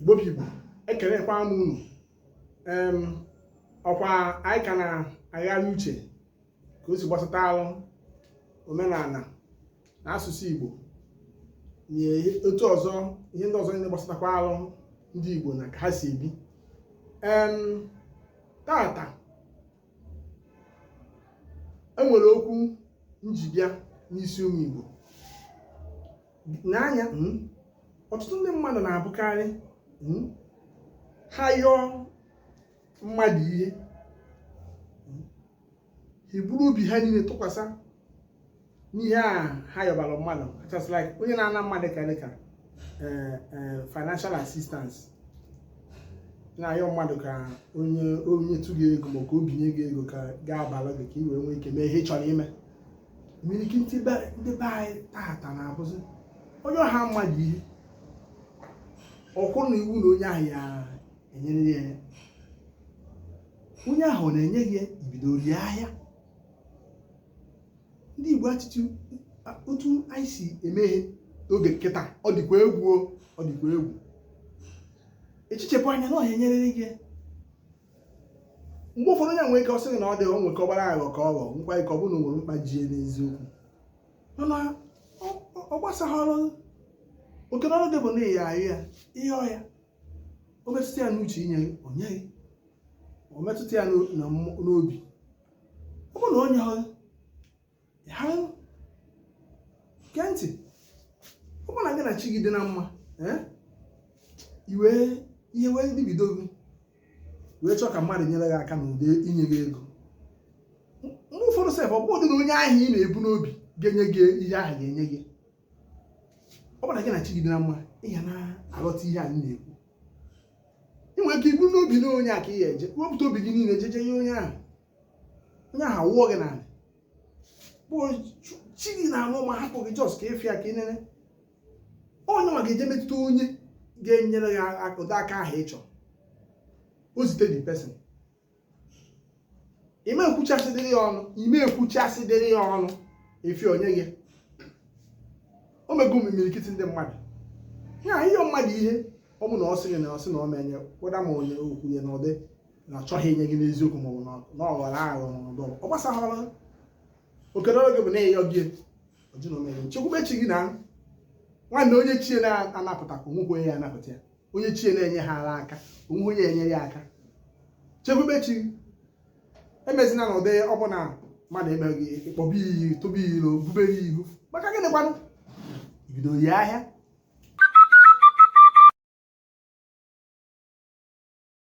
igbo bụ igbo ekelekwa m unu ọkwa anyị ka na-agharị uche ka o si gbasata alụ omenala na asụsụ igbo na otu ọzọ ihe ndị ọzọ niile gbasatakwa alụ ndị igbo na ka ha si ebi tata e nwere okwu m ji bịa n'isi ụmụ Igbo n'anya hmm, ọtụtụ ndị mmadụ na-abụkarị hmm, ha yọọ mmadụ ihe hmm, ha eburu obi ha niile tụkwasị n'ihe a ha yọbara mmadụ just like onye na-ana mmadụ ka dịka eh, eh, financial assistance na-ayọ mmadụ ka o nyetụ gị ego ma ka o binye gị ego ka gaa abalị gị ka ị wee nwee ike mee ihe ị chọrọ ime imirikiti ndị be anyị tata na-abụzi ọ yọọha mmadụ ihe ọ bụrụ na iwu na onye ahụ ya-enyeriri ya onye ahụ enyeghị i bido rie ahịa ndị Igbo achịchị otu anyị si eme ihe n'oge kịta ọ dịkwa egwu ọ dịkwa egwu echichepụ anya na ọ ya-enyeriri gị mgbe ụfọdụ o nwere ike ọ sị gị na ọ dịghị o nwee ike ọ bụrụ aghọ ka ọ ghọ nwekwa ike ọ bụrụ na o nwere mkpa ji ya n'eziokwu mana ọ gbasaghị ọrụ oke n'ọrụ gị bụ na ị ya-ayọ ya ị yọọ ya o metụta ya n'uche inye o nye gị o metụta ya n'obi ọ bụrụ na o nyerọ gị gee ntị ọ bụrụ na gị na chi gị dị na mma eh, iwe ihe wee dabido gị wee chọọ ka mmadụ nyere gị aka n'ụdị inye gị ego mgbe ụfọdụ sef ọ bụghị onye ahụ ị na-ebu n'obi ga-enye gị ihe ahụ ga-enye gị ọ bụrụ na gị na chi gị dị na mma ị ga na-aghọta ihe anyị na-ekwu ị nwere ike iburu n'obi na onye a ka ị ya eje wepụta obi gị niile jeje ihe onye ahụ onye ahụ awụọ gị n'ala but chi gị nwa ama hapụ gị just ka ị fụ ya ka ị nene ọ ya nwa ga-eje metụta onye ga-enyere gị ụdị aka ahụ ị chọrọ o zite the person ị ma ekwuchasịdịrị ya ọnụ ị ma ekwuchasịdịrị ya ọnụ ị fụ o nye gị o mego imirikiti ndị mmadụ yọọ mmadụ ihe ọ bụ na ọ sị gị na ọ sị na ọ ma enye whether ma onye kwuo ya n'ụdị na achọghị inye gị n'eziokwu maọbụ na ọ ghọrọ aghọ na ọ dịrọ ọ gbasahara oke dịịrị gị bụ na ị yọgo ọ jụ na ọ ma enye chekwube chi gị na nwanne onye chi ya na-anapụtakwa nwekwe ya anapụta ya onye chi ya na-enyehara aka o nwe onye enyere ya aka chekwube chi emezina na ụdị ọ bụ na mmadụ emeghị ịkpọba iyi tụba iro bubere ihu maka gịnị kwanụ ibido ya ahịa